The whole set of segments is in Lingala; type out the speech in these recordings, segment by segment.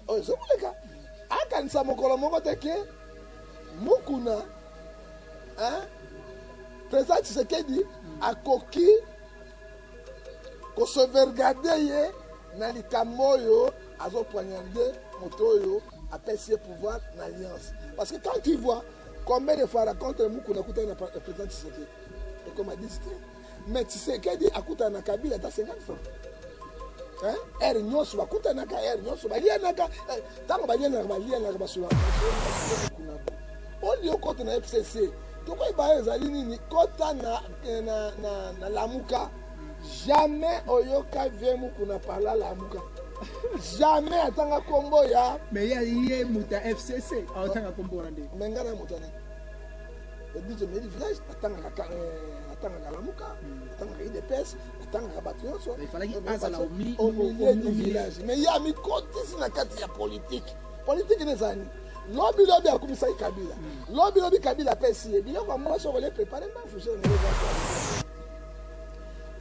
oyo ezokoleka akanisa mokolo moko te ke mukuna hein? president tshisekedi akoki kosevergade ye na likambo oyo azopoignarde moto oyo apesi ye pouvoir na alliance parce que quand tu vois combien de fois racontre mukuna akutani na president tshisekedi ekoma 10 te mais Tshisekedi akutana na Kabila ata 50 fois hein heure nyonso bakutanaka heure nyonso balianaka eh, ntango balianaka balianaka basolaka kuna olio kota na fcc tokoyeba ezali nini kota na, eh, na, na, na lamuka jamais oyoka vie mukuna parla lamuka jamais atanga kombo ya mais ye moto ya fcc atanga kombo wana nde me ngai na moto ya nini biso medi village atangaka atangaka lamuka atangaka idps atangaka bato nyonso omilieu du village mais ye amikotisi na kati ya politike politike ne ezali lobi lobi akumisaki kabila hmm. lobi lobi kabila apesi ye biloko ya mwasi okolie prepare mbafuge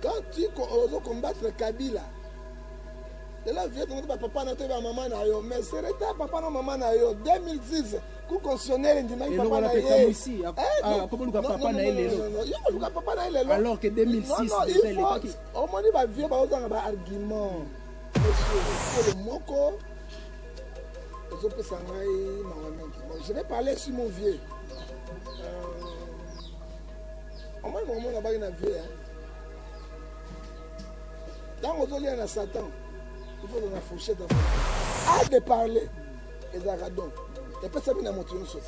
quand tu ozo combattre kabila lelo vie tongo te bapapa na yo te bamama na yo mais sereta papa na mama na yo 2010 Cour constitutionnelle endimaki papa na ye. Eh, ah, akoboluka papa na ye lelo. Yo koluka papa na ye lelo. Alors que 2006 déjà elekaki. Omoni ba vieux baozanga ba argument. Monsieur, moko ezopesa ngai mawa mingi. Bon, je vais parler sur mon vieux. Euh, omoni maman na baki na vieux hein. Ntango ozolia na Satan, il faut na fourchette à de parler. ezalaka don epesami na moto nyonso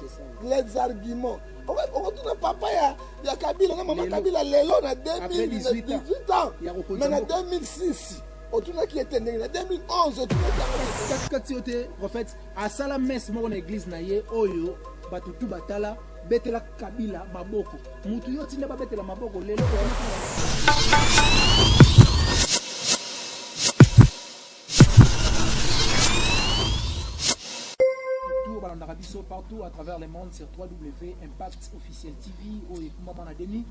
les arguments okotuna papa ya, ya kabila na mama kabila lelo na 2018 ans mais na 2006 otunaki ete ndenge na 2011 otunakikatikati yo te prophète asala messe moko na eglise na ye oyo bato tu batala betela kabila maboko motu yo tinda babetela maboko lelo balandaka biso partout à travers le monde sur 3w impact officiel tv oyo ekumama na demi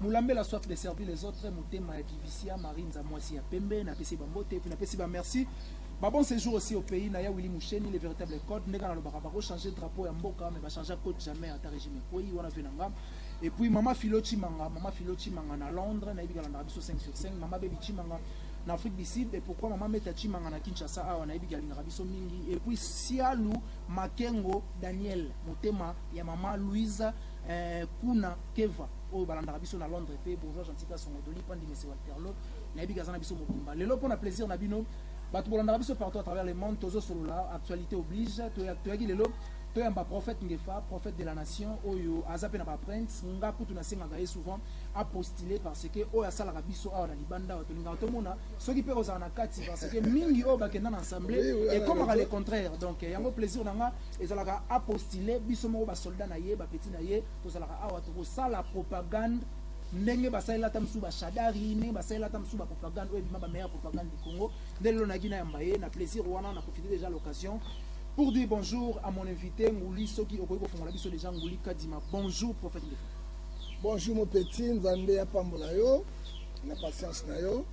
molambela soif de servir les autres motema ya divisia marie nzamwasi ya pembe napesi bambote epuis napesi bamerci Bah bon séjour aussi au pays, Naya Willy Moucheni, les véritables codes, Negana Lobaka, Bako changer de drapeau à Mboka, mais va changer à code jamais à ta régime. Oui, on a fait l'angam. Et puis Mama Philo Chimanga, Mama Philo Chimanga à Londres, Naïbi Galandra Bisso 5 sur 5, Mama Baby Chimanga, na Afrique du Sud et pourquoi maman Meta Chimanga na Kinshasa awa nayebi ki alingaka biso mingi et puis Sialu Makengo Daniel motema ya maman Louise eh, Kuna Keva oyo balandaka biso na Londres pe bourgeois gentil ka songo doli pandi mese Walterlo nayebi kaza na biso mobimba lelo pona plaisir na bino bato bolandaka biso partout à travers le monde tozo solola actualité oblige toyaki lelo toyamba prophète Ngefa prophète de la nation oyo aza pe na ba prince nga kutu nasengaka ye souvent a postuler parce que oyo asalaka biso awa na libanda awa tolingaka tomona soki mpe kozala na kati parce que mingi oyo bakenda na assemblée Oui, oui, ekomaka oui. le contraire donc eh, yango plaisir na nga ezalaka a postuler biso moko basoldat na ye bapeti na ye tozalaka awa tokosala propagande ndenge basalela ata mosusu bashadari ndenge basalela ata mosusu bapropagande oyo ebima bameilleure propagande du congo nde lelo nayaki nayamba ye na plaisir wana na profite déjà l'occasion pour dire bonjour à mon invité nguli soki okoki kofongola biso déjà nguli kadima bonjour prophète Ndefu. Bonjour mon petit, Nzambe apambola yo na patience na yo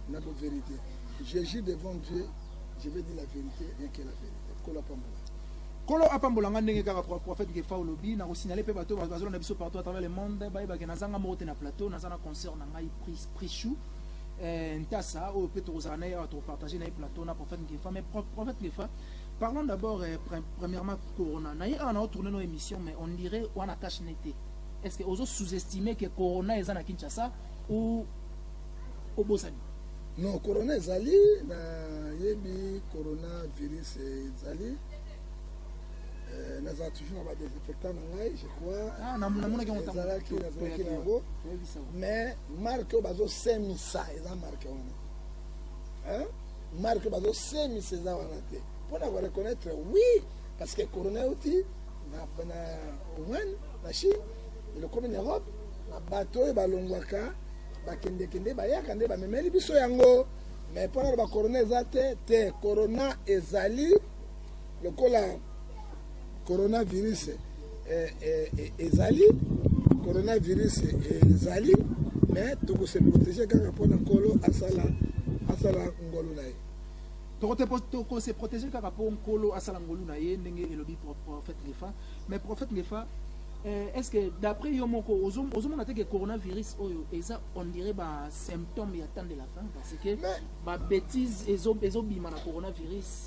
na bo vérité. Je jure devant Dieu, je vais dire la vérité, rien que la vérité. Kola pambola. Kolo apambola nga ndenge kaka pro- prophète Gefa olobi na kosignaler pe bato bazolo na biso partout à travers le monde bayebake nazanga moko te na plateau naza na concert na ngai Pris- Prichou eh, Ntasa oyo pe tokozala na ye awa tokopartage na ye plateau na prophète Gefa mais pro- prophète Gefa Parlons d'abord eh, pre premièrement Corona. Na ye awa nao tourner no émission mais on dirait wana cash nete. Est-ce que ozo sous-estimer que Corona eza na Kinshasa ou obosani? Non, Corona ezali na yebi Corona virus ezali. Euh, nazala toujours na badesinfectant na ngai je crois ah, namonaki yangoezalaki nazalaki na yango mais marke oyo bazosemisa eza marke wana marque bazo semisa eza wana te mpo na ko reconnaître oui parce que corona euti na Wuhan na Chine elokomi na Europe na bato oyo balongwaka bakendekende bayaka nde bamemeli biso yango me mpo na loba corona eza te te corona ezali lokola Coronavirus eh, eh, eh, ezali coronavirus ezali eh, mais tokose protege kaka mpo na nkolo asala asala ngolu na ye tokose protege kaka mpo nkolo asala ngolu na ye ndenge elobi prophète ngefa mais prophète ngefa eh, est ce que d'après yo moko ozomona te ke coronavirus oyo eza on dirait basymptôme ya temps de la fin parce que babétise ezobima na coronavirus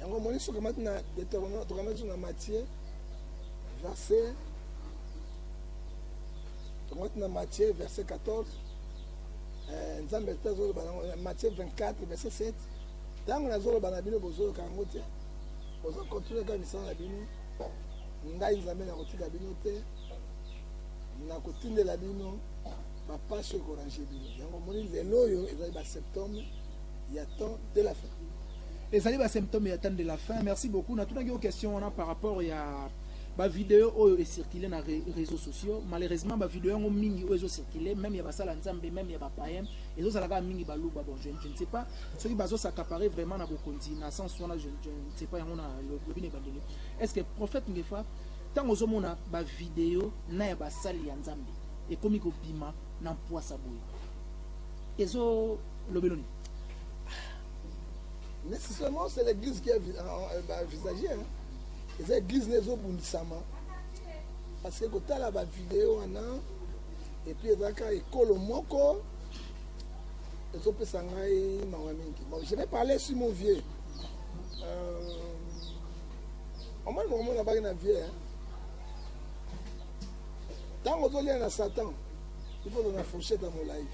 yango omoni soki omati na deuteronome tokamati na matie verse tokamati na matie verse 14 eh, nzambe mpe azoloba nango eh, matie 24 verse 7 ntango nazoloba na bino bozoyoka yango te oza kontinue kaka misala na bino ngai nzambe nakotika bino te nakotindela bino bapasi ekorange bino yango omoni lelo oyo ezali baseptembre ya temps de la fin ezali ba symptome ya temps de la fin merci beaucoup natunaki yo question wana par rapport ya bavideo oyo ecircule na réseau sociaux malheureusement bavideo yango mingi oyo ezocircule meme ya basala nzambe meme ya bapayen ezozala kaka mingi baluba bon je, je ne sais pas soki bazosakapare vraiment na bokonzi na sens wana je, je ne sais pas yango na lobi na ebandeli est ce que prophète ngefa ntango ozomona bavideo na ya basali ya nzambe ekomi kobima na mpwasa boye ezo Lobelo nini? Nécessairement, c'est l'église qui a envisagé. Hein. eza eglise na ezobundisama parce que kotala bavideo wana epuis ezalaka ekolo moko ezopesa ngai mawa mingi bon je vais parler sur mon vieux euh, omoni mokomona baki na vieux hein? ntango ozolia na satan ifo ozala na fourchette ya molai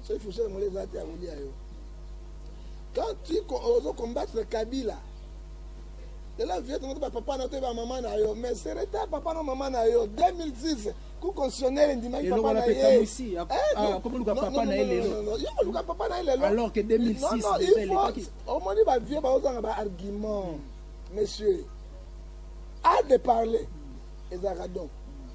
soki fusion ya moleza te akolia yo quand tu ozo combattre kabila ela vieux tongo ba papa na to ba mama na yo mais c'est reta papa na mama na yo 2006 ku constitutionnel ndimaki papa na ye papa na ye lelo yo koluka papa na ye lelo alors que 2006 non non il faut omoni ba vieux ba ozanga ba argument monsieur a de parler ezalaka don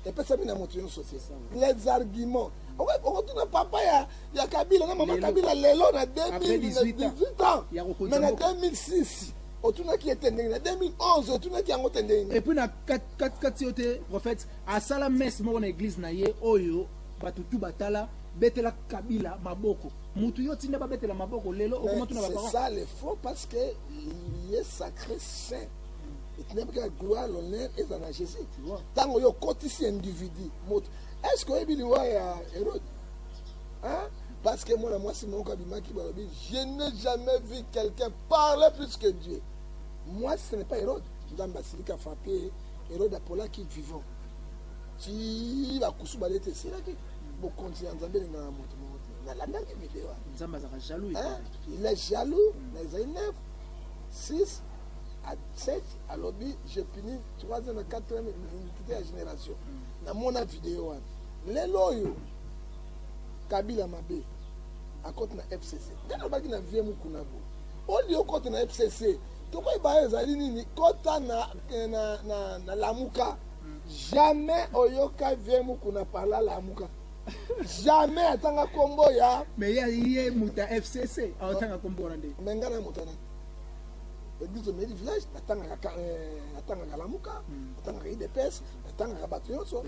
epesami na moto nyonso te les arguments okotuna papa ya, ya kabila na mama kabila lelo na 2018 ans mais na 2006 otunaki ye te ndenge na 2011 otunaki yango te ndenge epuis na katikati yo te prophète asala messe moko na eglise na ye oyo bato tu batala betela kabila maboko mutu yo tinda babetela maboko lelo okomatuna baparole c'est ça le faux parce que il est sacré saint etinamika gloire l'honneur eza na jésus ntango yo okotisi individu moto est ce que oyebi liwa ya hérode hein? parce que mwana mwasi moko abimaki balobi je n'ai jamais vu quelqu'un parler plus que dieu mwasi ce n'est pas hérode nzambe asiliki afrape hérode apolaki vivant ti bakusu bale ete esilaki bokonzi ya nzambe elingaka moto moko te nalandaki video wana nzambe azalaka jaloux Hein? epai. il est jaloux na ezali 9 6 à 7 alobi je puni 3 ans na 4 ans iniquité ya génération namona video wana lelo oyo kabila mabe akoti na fcc nde nalobaki na vie mokuna bo olie okota na fcc tokoyeba ezali nini kota na, eh, na, na, na lamuka jamais oyoka vie mokuna parla lamuka jamais atanga kombo ya mais ye ye muta fcc aotanga kombo wana nde me ngai na moto na eglise au mairie village natangaka natangaka lamuka natangaka idps natangaka bato nyonso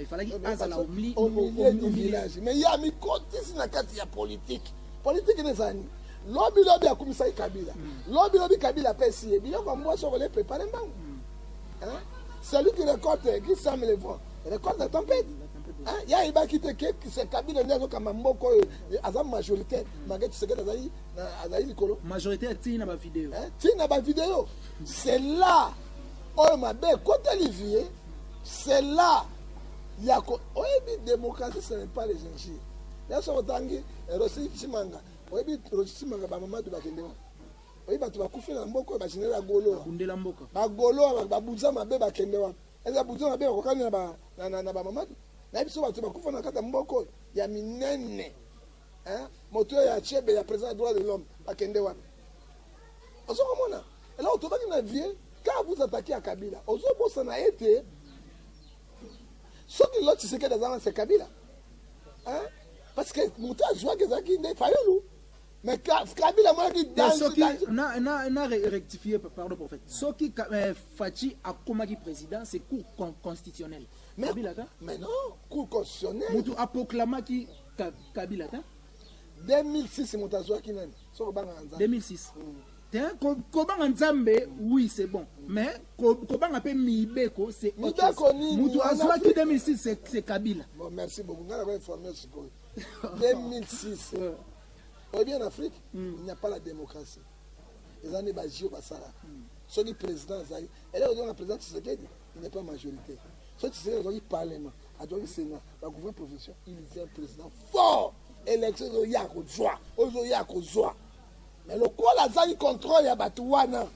au milieu du village mais ye amikotisi na kati ya politike politike ene ezala nini lobi lobi akumisaki kabila hmm. lobi lobi kabila apesi ye biloko ya mwasi okole prepare mbangu hmm. celui qui récolte qui sème le vent récolte la tempête ye ayebaki te ke kabila nde azokamba mboka oyo aza majoritaire hmm. mage tshisekedi azali Na azali likolo. Majorité ya tina ba video. Eh, tina ba video. C'est là oyo mabe ekoteli vie. C'est là ya ko oyebi démocratie ce n'est pas les injures. Ya soko tangi eh, Rosi Chimanga. Oyebi Rosi Chimanga ba mamadu bakende wapi? oyebi bato bakufi na mboka oyo bageneral ya goloa bakundela mboka bagoloa babunza mabe bakende wapi eza babunza mabe bakokani na bamamadu nayebi so bato bakufa na kati ya mboka oyo ya minene Hein? Moto ya chebe ya président ya droit de l'homme bakende wapi? Ozo komona? Ela otobaki na vie quand vous attaquez à Kabila, ozo bosana ete soki Lord Tshisekedi azanga se Kabila. Hein? Parce que moto azwaki ezalaki nde Fayulu. Mais Ka- Kabila amonaki Te danger, soki danger. na na na re- rectifier pa- pardon prophète soki ka- eh, Fatshi akomaki président c'est cour con- constitutionnelle Mais, Kabila ka mais non, cour constitutionnelle. mutu apoklamaki Kabila ata 2006 moto azwaki nani soki obangaka nzambe 2006 mm. te kobanga nzambe mm. oui c'est bon mm. mais kobanga mpe mibeko c'est mibeko nini moto azwaki 2006 c'est kabila bon merci beaucoup ngai nako informe sikoyo 2006 oyebi en afrique mm. il n'y a pas la démocratie eza nde bajio basala mm. soki président azali eleko ozonga président tshisekedi il n'est pas majorité soki tshisekedi azwaki parlement ajoki senga ba gouvernement provincial il vient président fort élection ezoya kozwa oyo ezoya kozwa mais lokola azangi contrôle ya bato wana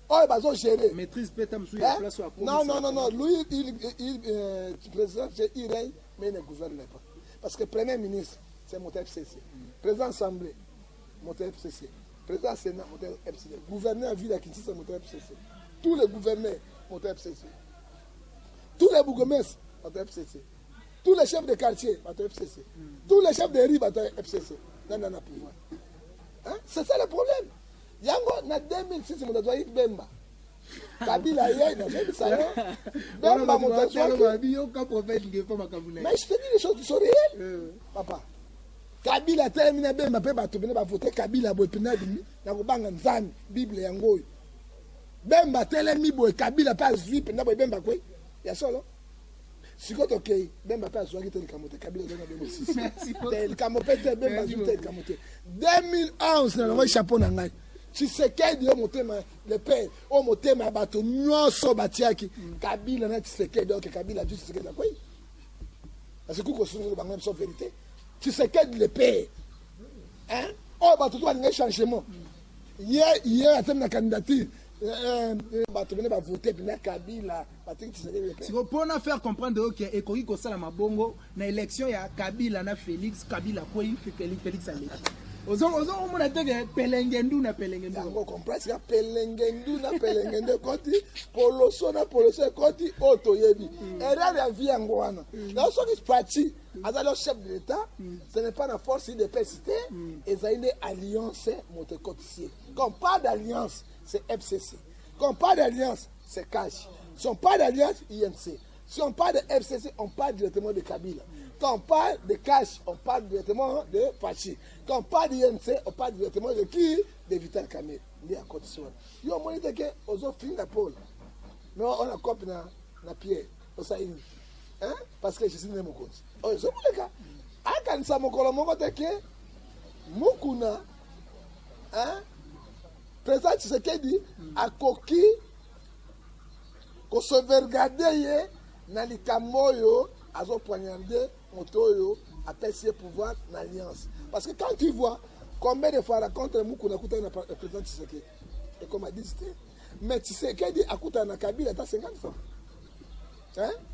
oyo bazo gérer maîtrise peta msu ya place ya non non non non lui il, il euh, président c'est il règne mais il ne gouverne pas parce que premier ministre c'est mon FCC président assemblée mon FCC président sénat mon FCC gouverneur ville à Kinshasa mon FCC tous les gouverneurs mon FCC tous les bourgmestres bato ya fcc tous les chefs de quartier bato ya fcc tous les chefs de rue bato ya fcc nani ana pouvoir c'est ça le problème yango na 2006 moto azwaki bemba kabila ye nazobisa yo bemba moto azwaki mais je te dis les choses qui sont réelles euh. papa kabila atelemi na bemba mpe bato bene bavote kabila boye mpe na bimi na kobanga nzambe bible yango oyo Bemba atelemi boye Kabila mpe azwi mpenza boye Bemba kwe ya solo sikoyo tokei Bemba mpe azwaki te likambo te Kabila azwaki na 2006 te likambo mpe te Bemba azwi te likambo te 2011 nalongaki chapeau na ngai Tshisekedi oyo motema le père oyo motema ya bato nyonso batiaki Kabila na Tshisekedi oke Kabila azwi Tshisekedi na kwei parce que kuki kosunzela bango na biso verité Tshisekedi le père oyo bato to balingai changement ye ye atemi na candidature eh, eh, eh, bato bene bavote pena kabila batiki tshisekedi pe siko mpo na faire comprendre yo ke ekoki kosala mabongo na élection ya kabila na félix kabila akwei Félix- félix aleki Ozo- ozo omona te ke pelenge ndu na pelenge ndu yango compresi ya pelengendu na pelengendu ekoti poloso na poloso ekoti oyo toyebi erreur ya vie yango wana na soki faci aza leo chef de l'etat mm. ce n'est pas na force idps te mm. ezali nde alliance moto ekotisi ye quand pas d'alliance c'est fcc quand pas d'alliance c'est cash si on parle d'alliance imc si on parle de fcc on parle directement de kabila quand on parle de cash on parle directement de fachi quand on parle d'imc on parle directement de qui de vital kamere nde akotisi wana yo omoni te ke ozofinga pole mais ona cope na, na pierre osali nini hein parce que Jésus nde mokonzi oyo ezo koleka akanisa mokolo moko te ke mukuna hein président Tshisekedi akoki kosevergade ye na likambo oyo azo poignarde moto oyo apesi ye pouvoir na alliance parce que quand tu vois combien de fois rencontre mukuna akutani na président Tshisekedi ekoma 10 te mais tisekedi akutana na kabila ata 50 fois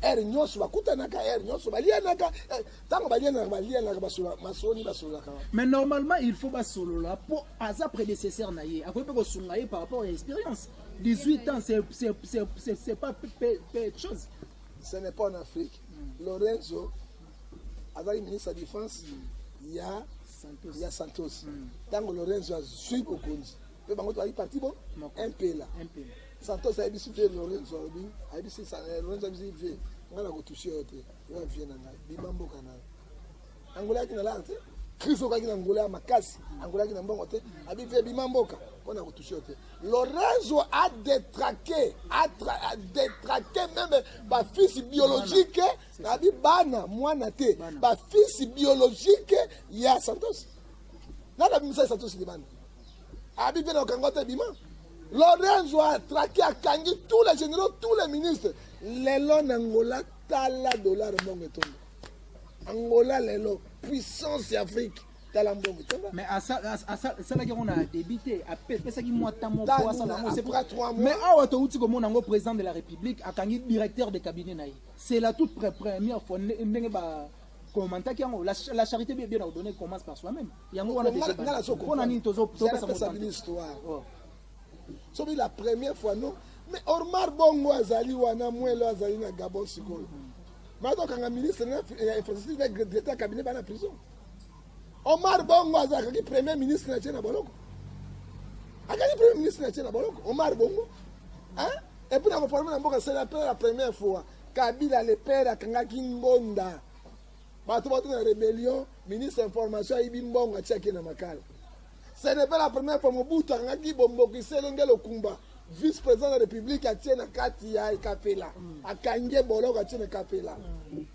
ere nyonso bakutanaka ere nyonso balianaka ntango eh, balianaka balianaka masoni basololaka mais normalement il faut basolola mpo aza prédécesseur na ye akoki mpe kosunga ye par rapport ya expérience 18 ans c'est pas peu de chose ce n'est pas en afrique lorenzo azali ministre ya défense ya ya Santos ntango Lorenzo azwi bokonzi mpe bango tobaki parti bo mpela Santos ayebisi vie Lorenzo alobi ayebisi eh, Lorenzo ayebisi vie ngai nakotushe yo te yo ya vie na ngai bima mboka na angola yaki na lar te crise okaki na angola ya makasi angola yaki na mbongo te abi vie bima mboka mpo na kotushe yo te Lorenzo a detrake a detrake meme bafisi biologique nabi bana mwana te ba fils biologique ya santos nani abimisa santos libanda abi mpe na okanga te bima lorenzo atraki akangi tous les généraux tous les ministres lelo na ngola tala dollar mbongo etondo angola lelo puissance ya afrique tala mbongo mais asalaki yango na débit te apesaki mwa ta moko asala yango mais awa touti komona yango président de la république akangi directeur de cabinet na ye C'est la toute première fois ndenge ba commentaki yango la, la charité bien bien ordonnée commence par soi-même. Yango wana déjà ngala bana. soko Pona nini tozo tozo pesa pesa bino histoire Oh. soki la première fois non mais ormar bongo azali wana mwelo azali na gabon sikoyo mazokanga ministre na fi- ya infrastructure na gre- directeur ya cabinet bana prison omar bongo azalakaki premier ministre na tie na boloko akaki premier ministre na tie na boloko omar bongo hein? Et puis na ko former na mboka c'est la première la première fois Kabila le père akangaki ngonda bato bato na rébellion ministre information ayibi mbongo atiaki na makala ce n'est pas la première fois mobutu akangaki bomboki selenge lokumba vice président de la république atie na kati ya ekapela mm. akangi ye boloko atie na ekapela mm.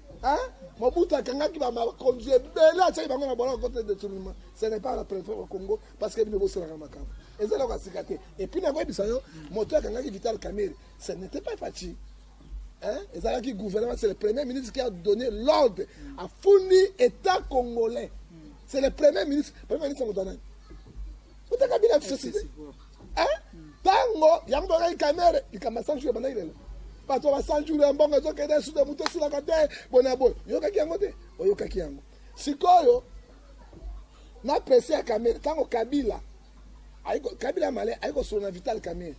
mobutu akangaki bakonzi ebele atiaki bango na boloko kote detournement ce n'est pas la préfère au congo parce que bino bosalaka makambo eza eloko ya sika te epuis nakoyebisa yo moto akangaki vital camere ce n'était pas faci ezalaki gouvernement c'est le premier ministre qui a donné l'ordre afundi état congolais c'est le premier ministre premier ministre moto anani uta kabila société ntango yango bakaki camere likambo ya sanjure bandaki lelo bato ya basanjure ya mbongo ezokende sude moto esilaka te boye na boye oyokaki yango te oyokaki yango Sikoyo na presse ya Kamere tango Kabila aiko Kabila male aiko solo na Vital Kamere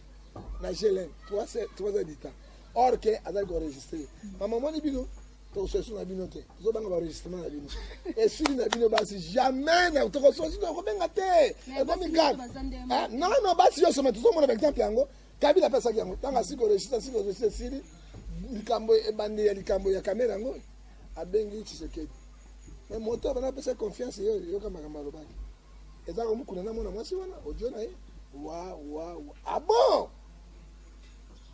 na GLM 3 3 ans du temps or que azali ko enregistrer mama moni bino tokososu na bino te tozobanga baenregistrement na bino esili na bino basi jamais na tokososu tokobenga te ekomi grave ah, nono basi nyonso ma tozomona baexemple yango kabila apesaki yango ntango asiki koregistre asiki koregistre esili likambo ebandeli ya likambo ya kamera yango abengi tshisekedi me moto abana apesa confiance ye yoka makambo alobaki eza komukuna na mwana mwasi wana odio na ye wa wa wa abon ah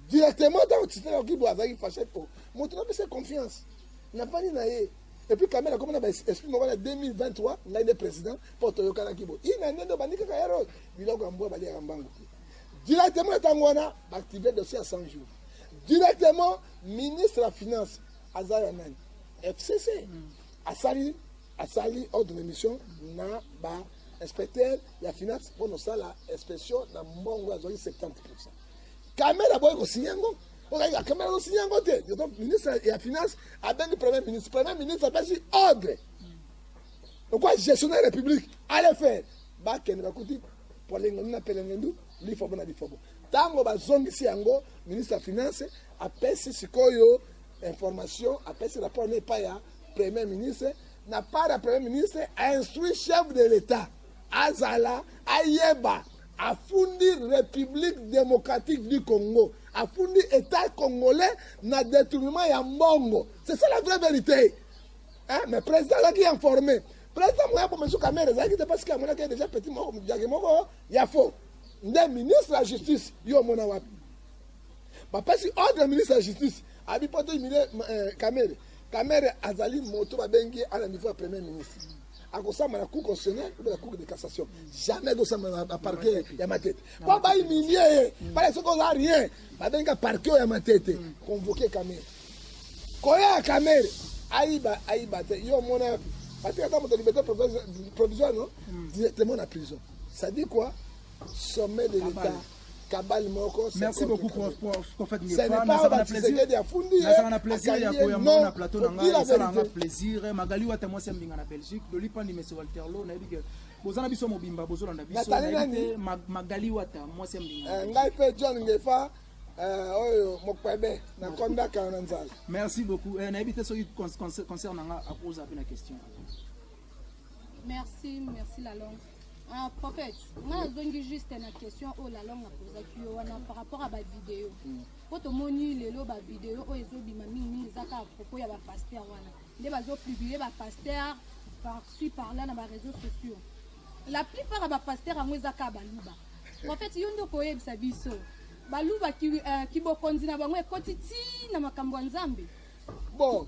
directement ntango tshisekedi akoki bo azalaki fashe po moto napesa confiance nafandi na ye epuis kamela akomi na baesprit moko na 2023 ngai nde président mpo toyokanaki bo ina nde ndo bandi kaka yaro biloko ya mbwa baliaka mbangu te directement ntango wana baactive dossier ya 100 jours directement ministre ya finance aza ya nani fcc asali asali ordre de mission na ba inspecteur ya finance mpo nosala inspection na mbongo azwaki 70 pourcent kamera boyi kosinya yango okayika kamera azosinya yango te donc ministre ya finance abengi premier ministre premier ministre apesi ordre lokola gestionnaire ya république ale faire bakende bakuti polengendu na pelengendu lifobo na lifobo ntango bazongisi yango ministre ya finance apesi sikoyo information apesi rapport na epai ya premier ministre na part ya premier ministre ainstruit chef de l'etat azala ayeba afundi république démocratique du congo afundi état congolais na détournement ya mbongo c'est ça la vraie vérité hein? mais président azalaki informé président moya bomesu kamere ezalaki te parce que amonaki déjà petit moko jage moko ya faux nde ministre ya justice yo omona wapi Bapesi ordre ministre ya justice abi mpo te humilier eh, Kamere. Kamere azali moto babengi ye ana niveau ya premier ministre akosamba na cour constitutionnelle ou na cour de cassation jamais akosamba na parquet ya matete mpo bahumilie ye bala soki oza rien babenga parquet ya matete convoke Kamere koya ya Kamere ayiba ayiba te yo omona yapi batika ata moto liberté provisoire no directement na prison ça dit quoi sommet de l'état kabal moko merci beaucoup prof prof prophète ngefa nazaka na plaisir nazaka na plaisir ya koyamba na plateau na ngai esala nga plaisir magali wata mwasi ya mbinga na belgique lolipandi mese walterlo nayebi ke boza na biso mobimba bozolanda biso magali wata mwasi ya mbinga eh, ngai mpe john ngefa Eh, oyo mokpebe nakondaka yo na nzala merci beaucoup eh, nayebi te soki concert na nga akoza mpe na question Merci, merci la langue. Ah, prophète, nga nazongi juste na question oyo la langue apozaki yo wana par rapport à bavideo mpo tomoni lelo bavideo oyo ezobima mingimingi eza kaka propos ya bapaster wana nde bazopublie bapaster parci parla na bareseau sociaux la plupart ya bapaster yango eza kaka baluba prophète yo nde okoyebisa biso baluba ki, uh, kibokonzi na bango ekoti ti na makambo ya nzambe bon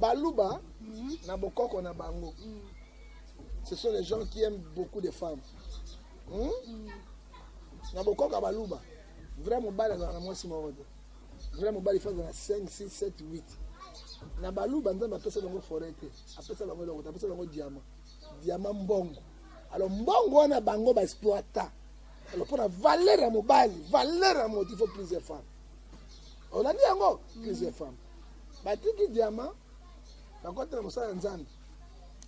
Baluba na bokoko na bango. Ce sont les gens qui aiment beaucoup de femmes. Hmm? Na bokoko ya baluba. Vrai mobali azalaka na mwasi moko te. Vrai mobali fa azala na 5 6 7 8. Na baluba nzambe apesa bango foret te. Apesa bango eloko te. Apesa bango diamant. Diamant mbongo. Alors mbongo wana bango ba exploita. Alors mpo na valeur ya mobali, valeur ya moto il faut plusieurs femmes. olandi yango plusieurs femmes batiki diama bakotela mosala ya nzambe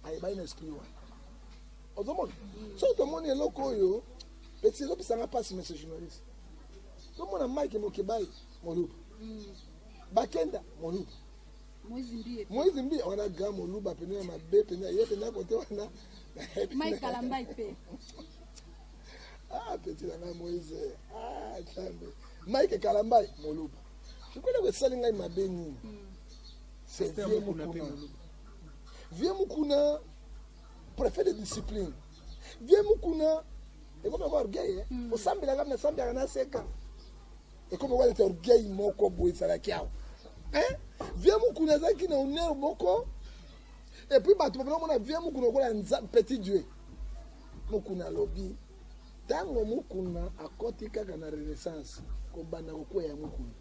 ayebani na esprit wana ozomona soki tomoni eloko oyo peti ezopisanga mpasi monsieur journaliste tomona mike mokebai moluba mm. bakenda moluba moise mbi wana gra moluba pene ya mabe pene ye pene ya kote wana ah peti na ngai moise ah nzambe mike kalambai moluba sikoyo eloko esali ngai mabe nini c'est vieux mukuna vieux mukuna préfet de discipline vieux mukuna ekomi yango orgueil eh? hmm. osambelaka nasambelaka naseka ekomi yango aleta orgueil moko boye ezalaki awa eh? vieux mukuna azalaki na honneur moko epuis bato bapena komona vieux mukuna okola petit dieu mukuna alobi Tango Mukuna akoti kaka na renaissance, kobanda kokueya ya Mukuna,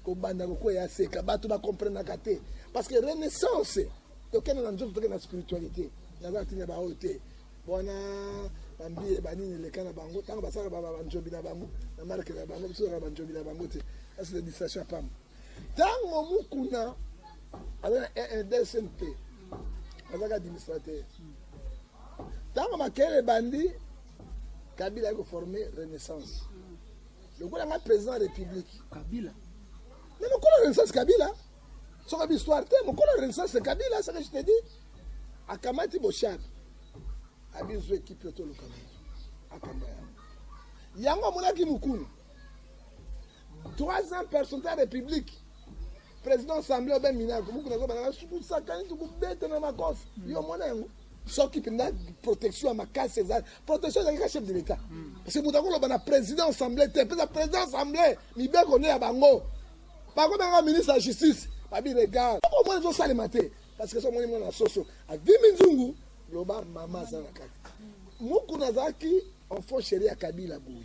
kobanda kokueya ya Seka, bato ba comprenaka te parce que renaissance tokende na nzoto, tokende na spiritualite. Naza na tina baoyo te wana bambiye banini eleka na bango ntango basalaka banzombi na bango na marke na bango biso kaka banzombi na bango te asi na distraction ya pamba ntango mokuna aza na rdcmp azaka administrateur Tango makelele ebandi, Kabila aye ko former Renaissance. Lokola nga president ya Republique. Kabila. Mais mokolo Renaissance Kabila. Soka bi histoire te, mokolo Renaissance Kabila, ça que je te dis. Akamati Boshaka. Abi zo équipe to lokambo. Akamba yango. Yango amonaki mukulu. Trois ans personne ta republique president assemble obe minako buku nazo bana suku sakani tukubeta na makofi hmm. yo mwana yango soki mpenza protection ya makasi ezali protection ezalaki ka chef de l'état hmm. parce que moto akoloba na président assemblée te mpeza président assemblée mibeko nde ya bango bakomaka ministre ya justice babi regard okomona ezosalema te parce que so omoni mwana na soso adimi nzungu loba mama aza na kati mokuna azalaki enfant chéri ya kabila boye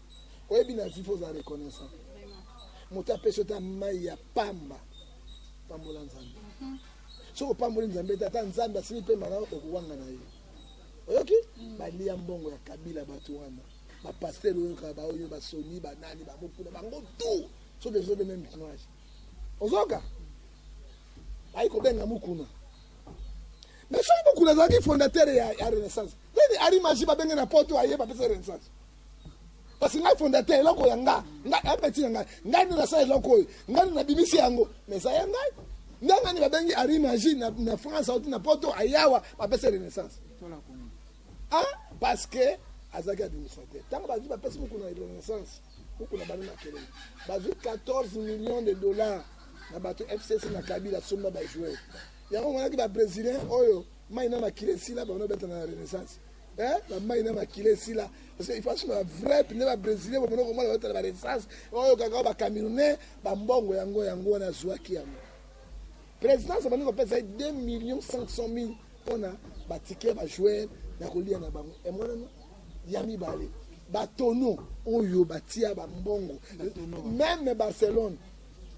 oyebi na vive oza reconnaissant moto apesi yo ta mai ya pamba pambola nzambe mhm. soki opamboli nzambe te ata nzambe asili mpema na okowanga na ye oyoki mm. balia mbongo ya kabila bato wana bapastere oyoka baoyo basoni banani bamokuna bango tu soki ezobe meme image ozoka ayi kobenga mokuna mais soki mokuna azalaki fondateur ya renaissance nini arimagi babenge na poto aye bapesa renaissance parce que ngai fondateur eloko ya nga nga apeti na ngai ngai nde nasala eloko oyo ngai nde nabimisi yango mais eza ya ngai nde ngai nde babengi ari magie na, na france auti na poto ayawa bapesa renaissance ah parce que azalaki administrateur ntango bazwi bapesi mokuna ya renaissance mokuna bana makelele bazwi 14 millions de dollars na bato fcc na kabila somba bajoueur yango omonaki babrésilien oyo mai na makila esila bango nabeta na renaissance Eh, ba mai na makila esila parce que il faut ba vrai pine ba brésilien ba monoko mona batala ba renaissance oyo kaka ba camerounais ba mbongo yango yango wana zuaki yango présidence bani ko pesa 2 millions 500 mille pona ba ticket ba joueur na kolia na bango et mona no ya mibale ba tonneau oyo batia ba mbongo même Barcelone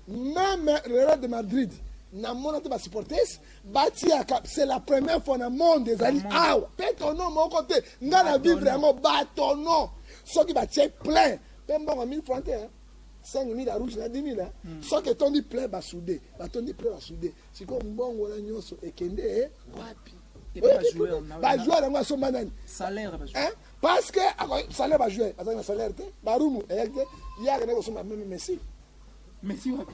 même Real de Madrid na mona te ba supporters batiyaka c'est la première fois na monde ezali awa mpe tono moko te nga na vivre yango batono soki batie plein mpe mbongo 1000 franc te 5000 ya rouge na 10000 hmm. soki etondi plein basude batondi plein basude sikoyo mbongo wana nyonso ekende wapi bajoueur yango asomba nani parce que salaire bajoueur azali na salaire te barumu eyaki te ye akende kosomba meme messi messi wapi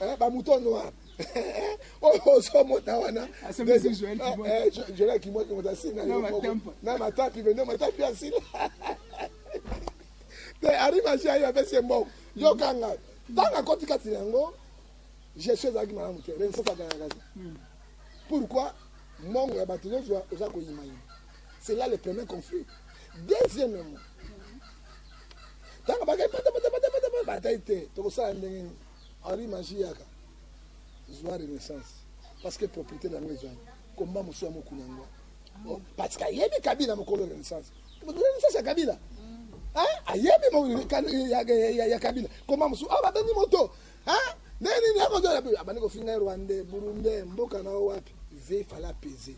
Eh, ba mouton noir oyo oh, ozomona oh, wana jola eh, kimwaki moto asina na matapi mende matapi asila te arimasi ayo apesi ye mbongo yokanga ntango akoti kati na yango gestion ezalaki malamu te renaissance agangaka te hmm. pourquoi mongo ya bato nyonso oza koyimayima c'est là le premier conflit deuxièmement ntango bakei patapatapatapata batai te tokosala ndenge nini Henri Magie yaka zwa renaissance parce que propriété na yango ezali komba mosusu ya mokuna yango oh, parce que ayebi kabila mokolo renaissance renaissance ya kabila ayebi ya kabila komba mosusu awa babengi moto nde nini akozala pe abandi kofinga rwande burunde mboka na yo wapi ve fala pese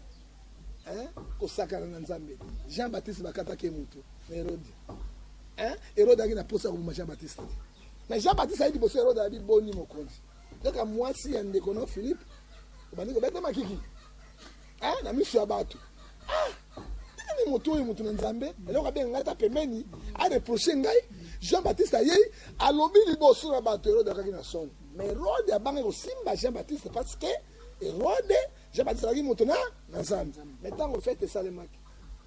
kosakana na nzambe jean baptiste bakataki ye moto na herode herode aki na mposa ya koboma jean baptiste te Mais Jean-Baptiste ayebi boso Herode abi boni mokonzi. Kaka mwasi ya ndeko na Philippe obandi kobeta makiki. Ah, na miso ya bato. Ah, nani moto oyo moto na Nzambe eloko abenga ngai ata pembeni areproche ngai Jean Baptiste ayei alobi liboso na bato Herode akaki na songo. Mais Herode abanga kosimba Jean Baptiste parce que Herode Jean Baptiste azalaki moto na na Nzambe. Mais ntango fete esalemaki,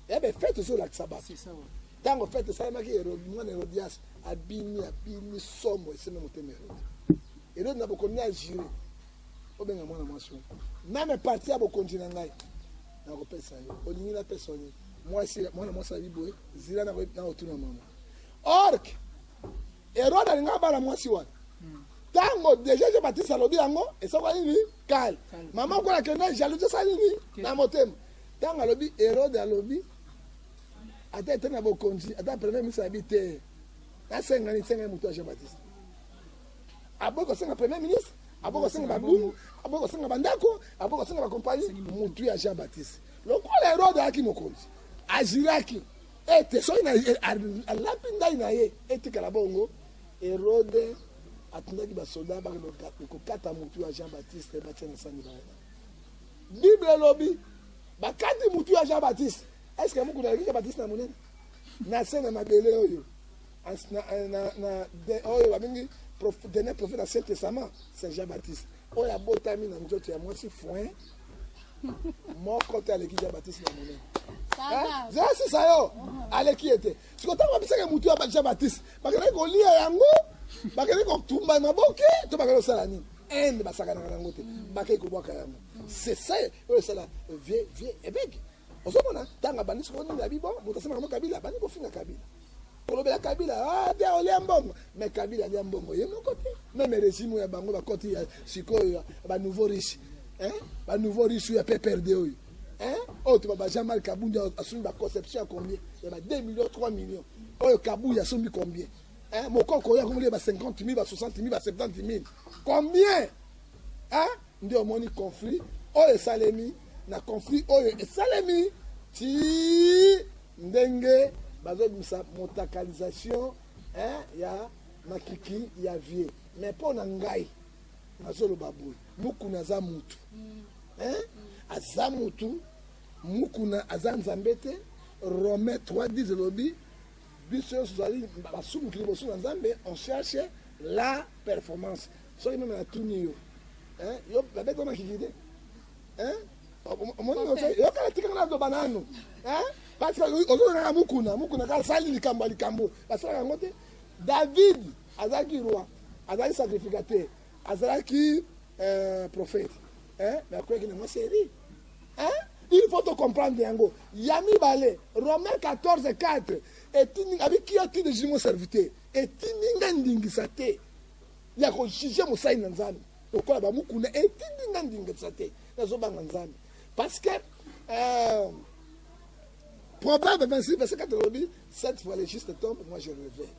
ebe eh fete ezolakisa bato ntango fete esalamaki herode mwana herodias abimi abimi somo esembe motema herode herode na bokomi ya jure obenga mwana mwasi oyo meme parti ya bokonzi na ngai nakopesa yo olingi napesa yo nini mwasi mwana mwasi abi boye zila nakotuna mama ork herode alinga abala mwasi wana ntango deja je batiste alobi yango esaka nini kale mama okola kende jalousi esa nini na motema ntango alobi herode alobi ata ete na bokonzi ata premier ministre abi te asenga nini senga moto ya jean baptiste aboyi kosenga premier ministre aboyi kosenga babungu aboyi kosenga bandako aboyi kosenga bakompani motu ya jean baptiste lokola herode ayaki mokonzi ajiraki ete soki alapi ndai na ye etikala bongo herode atindaki basoda bakokata motu ya jean baptiste batia na sani baye bible elobi bakati motu ya jean baptiste Est-ce que mukuna alobika ba kisi na munene? Na se na mabele oyo. Na na na oyo babengi dernier prophète na Saint Testament, Saint Jean-Baptiste. Oyo abotami na nzoto ya mwasi foin moko te aleki Jean-Baptiste na munene. Zasi sayo aleki ye te. Siko ntango babisaka motu ya Jean-Baptiste, bakendaki kolia yango, bakendaki kotumba maboke to bakendaki kosala nini? Inde basakanaka na yango te, bakei kobwaka yango. C'est ça oyo esala vieux vieux ebeki. Ozomona tango abandi sikoyo nini abi bon moto asemaka mo Kabila abandi kofinga Kabila kolobela Kabila ah te olia mbongo me Kabila alia mbongo ye moko te meme regime ya bango bakoti ya sikoyo ba nouveau riche hein ba nouveau riche ya PPRD oyo hein oyo toba ba Jean Marc Kabund asombi ba conception ya combien ya ba 2 millions 3 millions oyo Kabuyi asombi combien hein mokoko oyo akomoli ba 50 000 ba 60 000 ba 70 000 combien hein Nde omoni conflit oyo esalemi na conflit oyo esalemi ti ndenge bazobimisa motakalisation eh, ya makiki ya vie mais mpo na ngai nazoloba boye mukuna aza mutu eh? aza mutu mukuna aza nzambe te romain 3 10 elobi biso nyonso tozali basumuki liboso na nzambe on cherche la performance soki meme natuni yo eh, yo babeti wana kiki te eh? omoni yokala tika ngana aloba nanu eh? parce ozolonaka mukuna mukuna kaka sali likambo ya likambo basalaka yango te david azalaki roi azalaki sacrificateur azalaki eh, prophète mais akweyaki nango serie il faut tocomprendre yango ya mibale romain 14 4 etindi abi kia ti de jimo serviteur etindi nga ndingisa te ya ko juger mosali na Nzambe lokola ba mukuna etindi nga ndingisa te nazobanga Nzambe parce que euh, Proverbe 26 verset 4 elobi cette fois le juste tombe moi je revais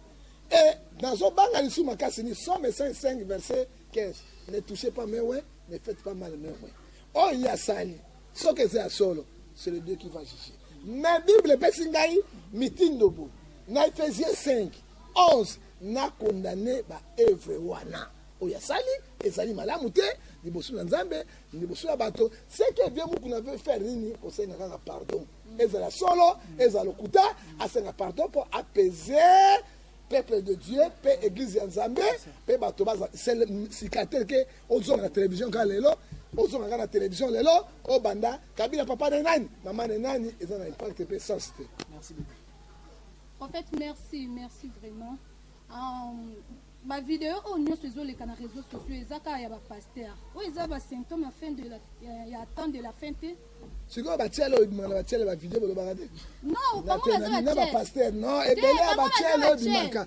et nazobanga lisusu makasi ni somme 5 verset 15 ne touchez pas mes ouais ne faites pas mal mes ouais oyo ye asali soki eza ya solo c'est le Dieu qui va juger mais Bible epesi ngai mitindo bo na Ephesie 5 11 na condamne ba oeuvre wana oyo asali ezali malamu te liboso na nzambe liboso ya bato seke vie muku na veut faire nini kosenga kaka pardon ezala solo ezala lokuta asenga pardon mpo apese peuple de dieu mpe église ya nzambe mpe bato baza sika te ke ozonga na télévision kaka lelo ozonga kaka na télévision lelo obanda kabila papa na nani mama na nani eza na impact mpe sens te Prophète merci merci vraiment um, ba video oyo nyonso ezoleka na réseaux sociaux eza kaka ya ba pasteur oyo eza ba symptôme ya fin de la ya, ya temps de la fin te sikoyo batiele oyo ebimaka na batiele bavideo bolobaka te non bango baza na batiele bapastere non ebele ya batiele oyo ebimaka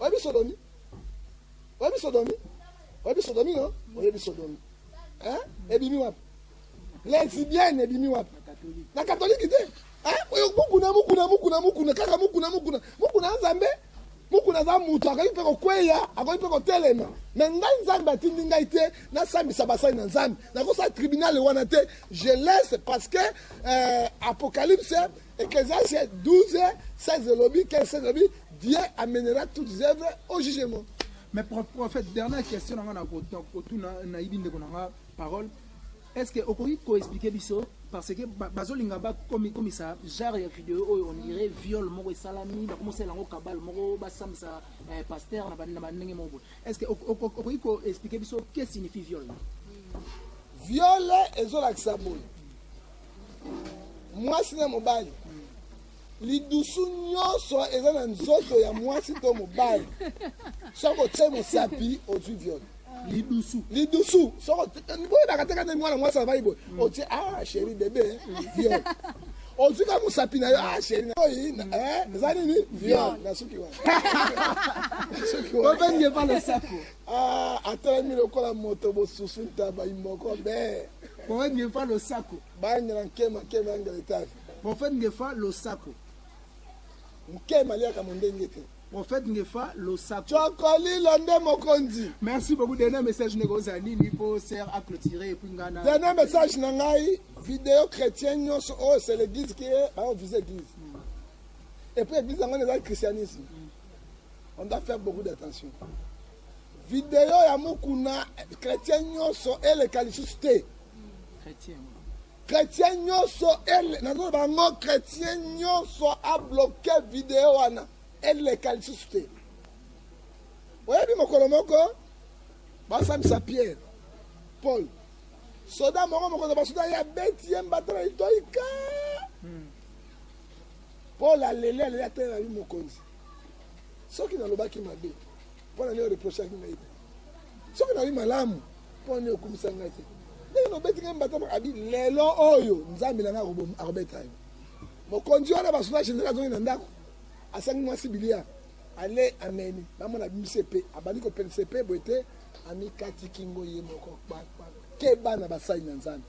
Oyebi sodomi? Oyebi sodomi? Oyebi sodomi no? Oyebi sodomi? Hein? Ebimi wapi? Lesbienne ebimi wapi? Na katoliki te. Hein? Oyo mukuna mukuna mukuna mukuna kaka mukuna mukuna mukuna nzambe mukuna aza moto akoki mpe kokweya akoki mpe kotelema me ngai nzambe atindi ngai te nasambisa basali na nzambe nakosala tribunal wana te je laisse parce que euh, apocalypse Ecclesiastes 12, 16 elobi, 15, 16 elobi, Dieu amènera toutes les œuvres au jugement. Mais pro- prophète, dernière question na nga na ko- na kotuna nayibi ndeko na nga parole. Est-ce que okoki ko expliquer biso parce que ba- bazolinga ba komi komisa genre ya video oyo on dirait viol moko esalami bakomosala yango kabal moko basambisa eh, pasteur na ba- na bandenge moko boye. Est-ce que oko- oko- okoki ko expliquer biso que signifie viol? Viol ezolakisa boye. mwasi na mobali lidusu nyonso eza na nzoto ya mwasi to mobali soki otye mosapi ozwi viole lidusu lidusu soko boyebaka te kanda mwana mwasi avai boye mm. otye a ah, sheri bebe viole ozwika mosapi na yo a ah, sheri naoyi eh, eza nini viole nasuki wana nasuki wana Ah, atalami lokola moto bosusu ntaba imoko be prophète ngefa losako bangela nkema nkema yangela etape prophète ngefa losako nkema aliaka mo ndenge te prophète ngefa losako cokolilo nde mokonzi merci beaucoup dernier message ndeko ozala nini mpo ser a clôtire epuis ngai na dernier message na ngai video chrétien nyonso oyo c'est l'église qui est baovise église epuis église yango eza christianisme On doit faire beaucoup d'attention. Video ya Mukuna chrétien nyoso eleka lisusu te. Chrétien. Chrétien nyoso ele nazo bango chrétien nyoso a bloquer video wana eleka lisusu te. Oyebi mokolo moko basambisa Pierre Paul soda moko mokonzi ya basoda ye abeti ye mbata na litoyika hmm. Paul aleli aleli atelelaki mokonzi soki nalobaki mabe mpo na nini oreprochaki ngai te soki nayebi malamu mpo na nini okumisa ngai te ndenge nobeti ngai mbata abi lelo oyo nzambe na ngai akobeta yo mokonzi wana basoda général azongi na ndako asangi mwasi bilia ale ameni bamona bimise mpe abandi kopelisa mpe boye te amikati kingo ye moko keba na basali na nzambe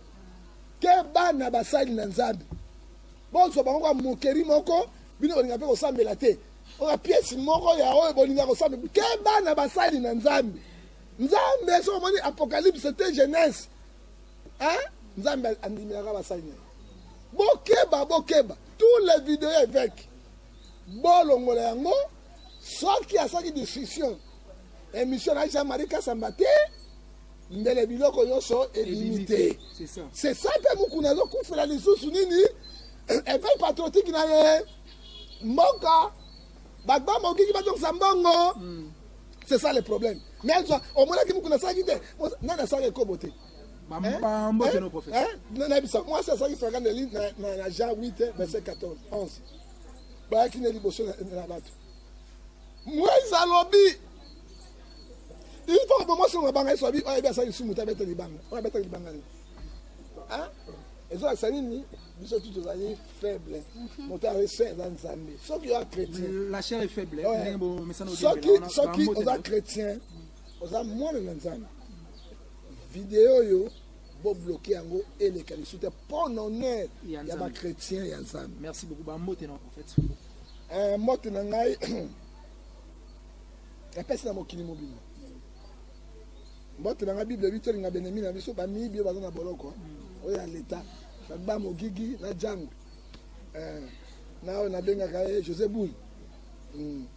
keba na basali na nzambe bozwa bango kwa mokeri moko Bino bolinga pe kosambela te. Oyo pièce moko ya oyo bolinga kosambela. Keba na basali na Nzambe. Nzambe so omoni apocalypse te jeunesse. Hein? Nzambe andimelaka basali na ye. Bokeba, bokeba. Tous les vidéos évêques. Bolongola yango soki asaki discussion emission na Jean-Marie Kasamba te mbele biloko nyonso ebimi te c'est ça mpe mokuna azokufela lisusu nini epai patriotique na ye mboka bato bamokiki bazongisa mbongo hmm. c'est ça le problème mais omonaki mokuna asalaki te nani asala ekobo te bambambo te no professeur eh? eh? na nayebisa mwasi azalaki franga na lin na jean 8 verset 14 11 bayaki na liboso na bato moise alobi ifo bomo songo banga yesu abi oyebi asali lisumu te abeta libanga oyo abeta libanga nini ezolakisa nini biso tu tozali faible mhm. moto ya resin eza nzambe soki oza chrétiensoki oza chrétien oza mwana na nzambe video oyo bobloke yango eleka lisu te mpo na honneur ya bachrétien ya nzambe mbote na ngai epesi na mokili mobimba mbote na ngai bible ebi tolinga benemi na biso bamiyibi oyo baza na boloko hmm. oyo ya leta ba mogigi na jango eh, na oyo nabengaka ye josé boul hmm.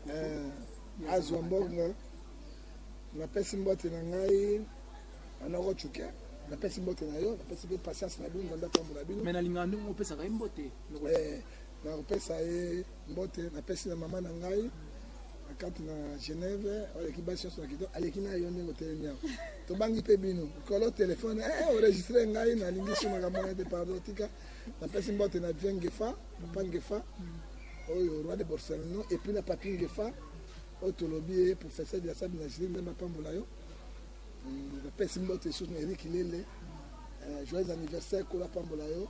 eh, azwa mbongo napesi mbote na ngai anoko cuke napesi mbote na yo napesi mpe patience na bino nzambe atambola bino me nalingaka ndenge opesaka ye mbote eh, nakopesa ye Mbote na pesi na mama na ngai kati na Genève aleki basi nyonso na kitoko aleki na yo ndenge otelemi awa tobangi mpe bino kolo telefone eh, eh, oregistre ngai nalingi so makambo wana te pardon tika napesi mbote na vie ngefa papa ngefa oyo roi de borsalino epuis na papi ngefa oyo tolobi ye professeur de la salle de nagiri nzambe apambola yo napesi mbote lisusu na erik lele eh, joyeux anniversaire kolo apambola yo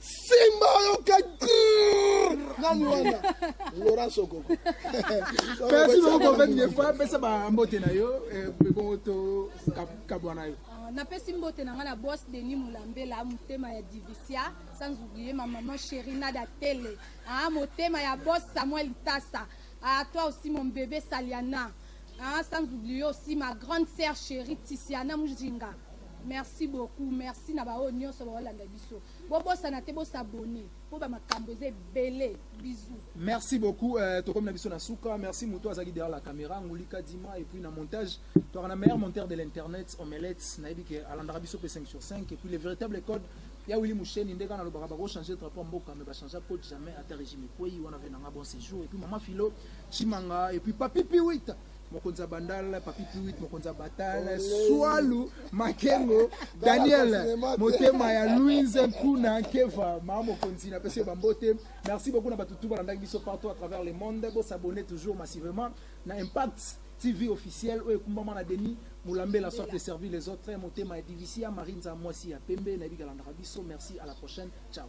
Simba oyoka grrrr nani wana Laurent Sokoko Merci beaucoup pour votre effort. Pesa ba mbote na yo, eh, ebongo to kab- kabwa na yo. Ah, napesi mbote na ngai na bos denis molambela motema ya divicia sans oublie ma maman cherina datele ah, motema ya bos samuel tasa ah, toi aussi mon bébé saliana ah, sans oublie aussi ma grande sœur chérie tisiana mujinga Merci beaucoup, merci na baoyo nyonso baolanda biso. Bobosana te bosabone mpo bamakambo eza ebele. Bisous. Merci beaucoup. Euh, tokomi na biso na suka. Merci moto azalaki derrière la caméra, Ngulika Dima et puis na montage. Toka na meilleur monteur de l'internet, Omelette, nayebi ke alandaka biso pe 5 sur 5 et puis les véritables codes ya Willy Moucheni ndeka na lobaka bako changer drapeau mboka mais ba changer code jamais ata régime ekweyi wana venanga bon séjour et puis maman Philo Chimanga et puis Papi Piwita mokonzi ya bandal papi piwit mokonzi ya batal swalu makengo daniel motema ya louise nkuna nkeva maa mokonzi na pesi bambote merci beaucoup na bato tu balandaki biso partout à travers le monde bosabonne toujours massivement na impact tv officiel oyo ekumbama na denis molambela soit de servir les autres motema ya divisia marinza mwasi ya pembe nayebi kalandaka biso merci à la prochaine ciao